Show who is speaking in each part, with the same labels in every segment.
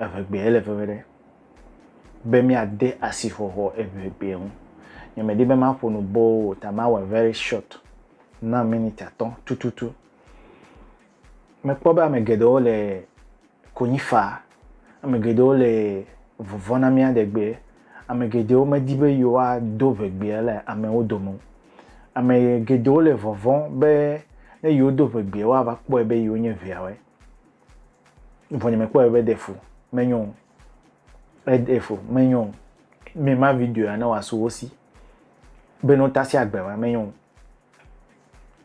Speaker 1: Eŋegbee le veve ɖe be míade asixɔxɔ Eŋegbee ŋu. Nyemedi be maƒo nu boo o ta mawɔe very short na miniti atɔ̃ tututu. Mekpɔ be ame geɖewo le konyi faa, ame geɖewo le vɔvɔ̃ na mía ɖegbee, ame geɖewo medi be yewoado Ŋegbee le amewo dome o. Ame geɖewo le vɔvɔ̃ be ne yewodo Ŋegbee woava kpɔe be yewonye Ŋeawoe. Vɔ nye me kpɔe be defu menyo. Edefu menyo. Me ma video ya ne wa su wosi. Be no tasi agbe ma menyo.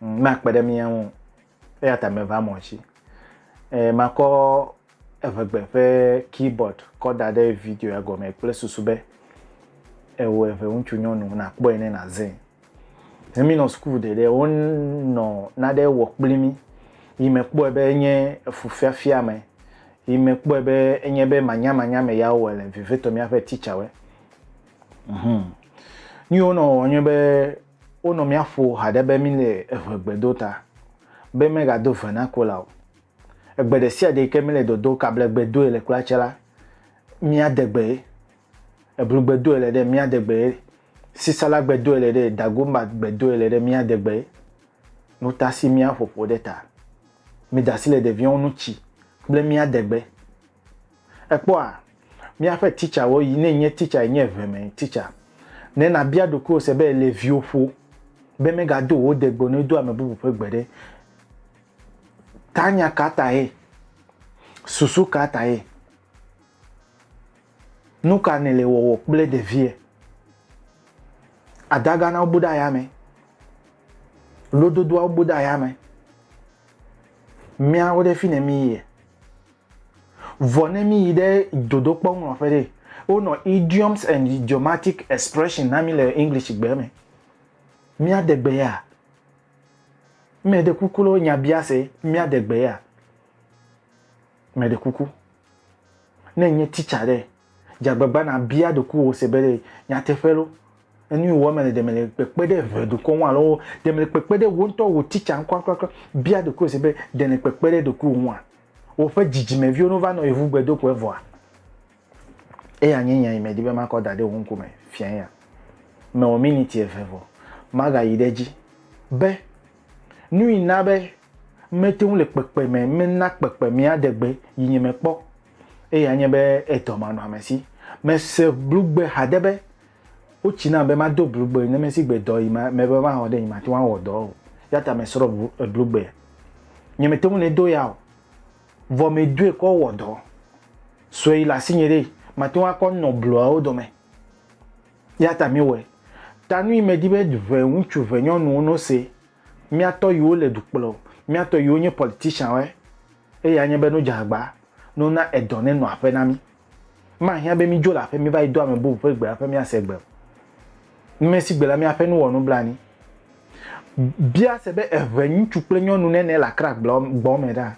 Speaker 1: Mm, ma kpe ɖe mi ŋu. Eya ta me va mɔ si. E ma kɔ evegbe ƒe keyboard kɔ da ɖe video ya gɔme kple susu be ewo eve ŋutsu nyɔnu na kpɔe ne na zin. Ne mi nɔ suku ɖe ɖe wo nɔ naɖe wɔ kpli mi, yi me kpɔe be enye efu fiafia me, yi me kpɔe be enye be manya manya me ya wowɔe le vevitɔ mia ƒe teacher we. Mhm. Nu yi wo nɔ wɔ nye be wo nɔ mia ƒo haɖe be mi le eʋe gbe do ta be me ga do ve na kola o. Egbe ɖe sia ɖe yi ke mi le dodo kablegbe doe le kula tse la, mia de gbe ye. Eblu gbe doe le ɖe mía degbe ye, sisala gbe doe le ɖe ye, dagomba gbe doe le ɖe mía degbe ye. Nuta si mía ƒoƒo ɖe ta. Mi dasi le ɖeviɔwo nu tsi kple mía degbe. Ekpɔ a? Mía ƒe titsa wo yi ne nye titsa yi nye eve me titsa. Ne na bia ɖokuiwo se be le viwo ƒo be me ga do wo degbe ne do ame bubu ƒe gbe ɖe ta nya ka ta ye? Susu ka ta ye? Nuka nèle wɔwɔ kple ɖevia? Adaganawo bu ɖe ayame. Lododoawo bu ɖe ayame. Míawo ɖe fi ne mí yie. Vɔ ne mí yi ɖe dodokpɔ ŋlɔƒe ɖe, wonɔ idioms and idiomatic expression na mí le English gbe me. Mía de gbe ya? Mɛɖe kuku loo nyabiase, mía de gbe ya? Mɛɖe kuku. Ne ènye titsa ɖe, dze agbagba nàbia ɖokuiwò se be ɖe nyateƒe lɔ, enu yi wòwɔna le ɖe mele kpekpe ɖe eve dukɔ ŋu alo ɖe mele kpekpe ɖe wò ŋutɔ wò titsa ŋu kurakurakura. Bia ɖokuiwò se be ɖe nèle kpekpe ɖe ɖokuiwò ŋua? Woƒe dzidzimeviwo no va nɔ yevu gbedoxɔe vɔa? Eya nye nya yi medi be makɔ da ɖe wò ŋku me fia eya. Mewɔ miniti eve vɔ, magayi ɖe edzi be. Nui na be mete ŋu le kpekpeme mena kpekpemea ɖe gbe yinye me kpɔ. Eya nye be edɔmanɔamesi. Mese blugbe hade be wotsi nam be mado blugbe ne mesi gbe dɔ yi ma me be mawɔ ɖe yi mate ŋu awɔ dɔ o. Eya ta mesrɔ̃ blugbea. Nye mete ŋu ne do ya o. Vɔ medoe kɔ wɔ dɔ. Sue yi le asinye ɖe mate ŋu akɔ nɔ bluawo dome. Eya ta miwɔe. Ta nu yi medi be ʋe ŋutsu ʋe nyɔnuwo no se, mía tɔ yiwo le du kplɔ o, mía tɔ yiwo nye politician woe, eyae nye be no dze agba, no na edɔ ne nɔ aƒe na mi. Mahiã be mi dzo le aƒe mi va yi do ame bubu ƒe gbe aƒe mia se gbe o. Nume si gbe la mia ƒe nu wɔ nublanui. Bia se be eʋe ŋutsu kple nyɔnu nene le Accra gbɔ me ɖa?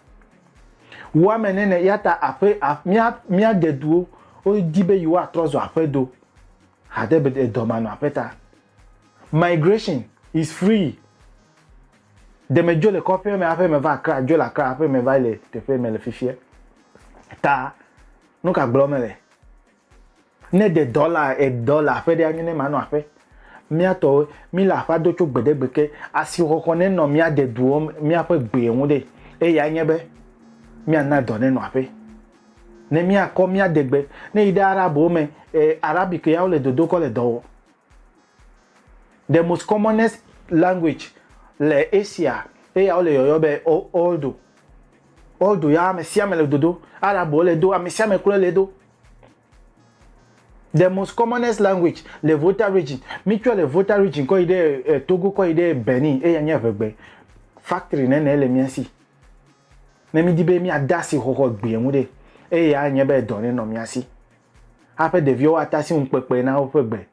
Speaker 1: Wu ame nene yata aƒe mia mia deduwo wo di be yiwo atrɔ zɔ aƒe do hade be edɔ manɔ aƒe ta. Migration is free. Deme dzo le kɔƒea me aƒe me va akra dzo le akra aƒe me va le teƒe me le fifia. Ta nuka gblɔ me le? Ne ɖe dɔla e dɔ le aƒe ɖe anye ne manɔ aƒe. Mía tɔ wo, mí le aƒea do tso gbeɖegbe ke. Asixɔxɔ ne nɔ mía de duɔ me míaƒe gbee ŋu ɖe, eya nye be mía na dɔ ne nɔ aƒe. Ne mía kɔ mía de gbe, ne yi ɖe Arab wo me e Arabic ya wo le dodo kɔ le dɔ wɔ. The most commonest language le Asia eya wo le yɔyɔ be Urdu. Urdu ya ame sia ame le dodo. Arab wo le do, ame sia ame klɔe le do. the most commonest language le Volta region mitsɔ le Volta region kɔ yi ɖe eh, Togo kɔ yi ɖe Benin eya nye eŋegbe factory nene le mía si ne mídi be míade asi xɔxɔ gbea ŋu ɖe eya anye be dɔ nenɔ mía si aƒe ɖeviwo ate asi ŋu kpekpe na woƒe gbe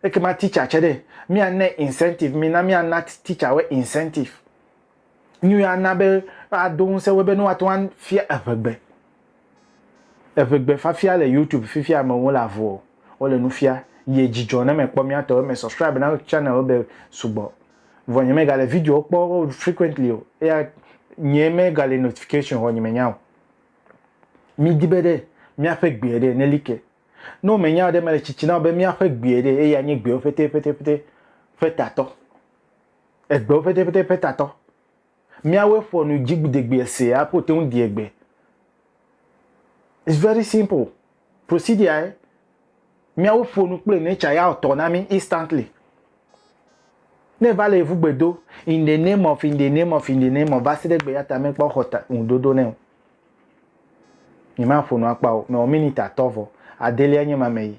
Speaker 1: ekema teacher tsɛ ɖe míana incentive mina míana teacher wo incentive Nu ya ana be woado ŋusẽ wo be ne woate ŋu afia eŋegbe. Eŋegbe fafia le YouTube fifia ame wo le avu o. Wole nu fia. Yie dzidzɔ ne mekpɔ mía tɔwo. Me subscribe na channel wo be sugbɔ. Vɔ nye me gale video wo kpɔ frequently o. Eya nye me gale notification vɔ nye me nya o. Mi di be ɖe mía ƒe gbeɛ ɖe ne li ke. Ne wo me nya o ɖe me le tsitsi na wo be mía ƒe gbeɛ ɖe eya nye gbewo ƒete ƒete ƒete ƒe tatɔ. Egbeo pɛtɛpɛtɛ petatɔ. Miawoe ƒo nu dzigbidegbeɛ se apo te ŋu deɛ gbe. It's very simple. Procedure-ae. Miawo ƒo nu kple nature ya o tɔ na mi instantly. Ne eva le ŋu gbe do in the name of in the name of in the name of va se ɖe gbeya ta mekpɔ xɔ ta ŋu ɖoɖo nɛ o. Nyema ƒo nu akpa o. Mewɔ minute atɔ vɔ adelia nye ma me yi.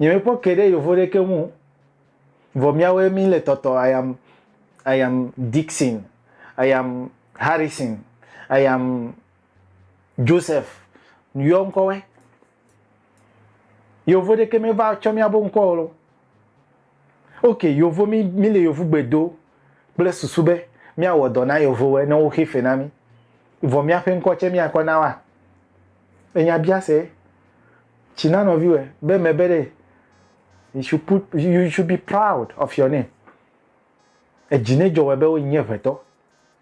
Speaker 1: Nye me kpɔ ke ɖe yovo ɖe ke ŋu vɔ mía woe mi le tɔtɔ I am I am Dixon I am Harrison I am Joseph yɔ ŋkɔ wɛ yovo ɖe ke me va tsɔ mía bo ŋkɔ o lo. Ok yovo mi mi le yovugbe do kple susu be mia wɔ dɔ na yovowe ne wo xe fe na mi vɔ mia ƒe ŋkɔ tse mia kɔ na wa enya bia se tsi na nɔviwe be me be ɖe you should put you should be proud of your name edzi ne dzɔ wɔ be wo nye ʋetɔ.